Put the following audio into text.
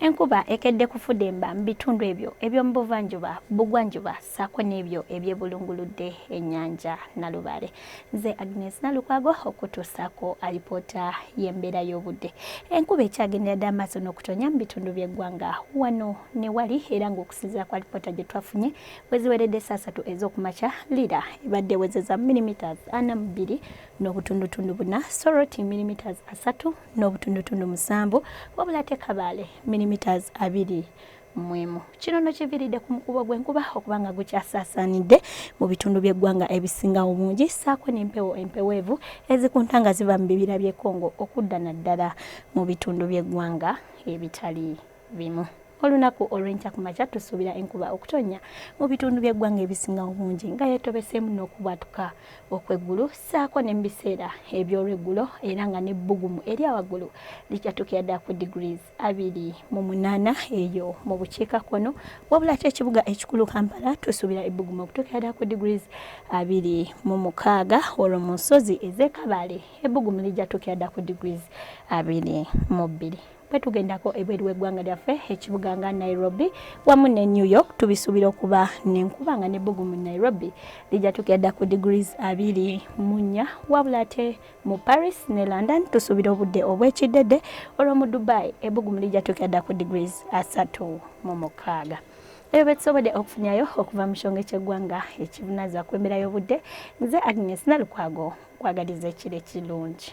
Enkuba ekedde kufudemba mu bitundu ebyo eby'omu buvanjuba bugwanjuba ssaako n'ebyo ebyebulunguludde ennyanja Nalubaale. Nze Agnes Nalukwago okutuusaako alipoota y'embeera y'obudde. Enkuba ekyagendera dda amaaso n'okutonya mu bitundu by'eggwanga wano ne wali era ng'okusinziira ku alipoota gye twafunye weziweredde ssaasatu ez'okumakya lira ebadde ewezeza milimetres ana mu bbiri n'obutundutundu buna soroti milimetres asatu n'obutundutundu musanvu wabula ate kabaale milimiters abiri mwemu kino no kiviridde ku mukubo gw'enkuba okuba nga gukyasaasaanidde mu bitundu by'eggwanga ebisinga obungi saako n'empewo empeweevu ezikunta nga ziva mu bibira by'e Congo okudda naddala mu bitundu by'eggwanga ebitali bimu. Olunaku olw'enkya ku makya tusuubira enkuba okutonnya mu bitundu by'eggwanga ebisinga obungi nga yeetobeseemu n'okubwatuka okw'eggulu ssaako ne mu biseera eby'olweggulo era nga n'ebbugumu erya waggulu likyatuukira ddala ku degrees abiri mu munaana eyo mu bukiikakkono wabula ate ekibuga ekikulu Kampala tusuubira ebbugumu okutuukira ddala ku degrees abiri mu mukaaga olwo mu nsozi ez'e Kabale ebbugumu ligyatuukira ddala ku degrees abiri mu bbiri. bwe tugendako ebweru w'eggwanga lyaffe ekibuga nga nairobi wamu ne new york tubisuubira okuba nenkuba nga nebbugu mu nairobi lijja tukira dda ku degrees abiri mu nnya wabula ate mu paris ne london tusuubira obudde obw'ekiddedde olwo mu dubai ebbugumu lijja tukira dda ku degrees asatu mu mukaaga ebyo betusobodde okufunyayo okuva mu kyonge ky'eggwanga ekivunaza ku embeera y'obudde nze agnes nalukwago kwagaliza ekiro ekirungi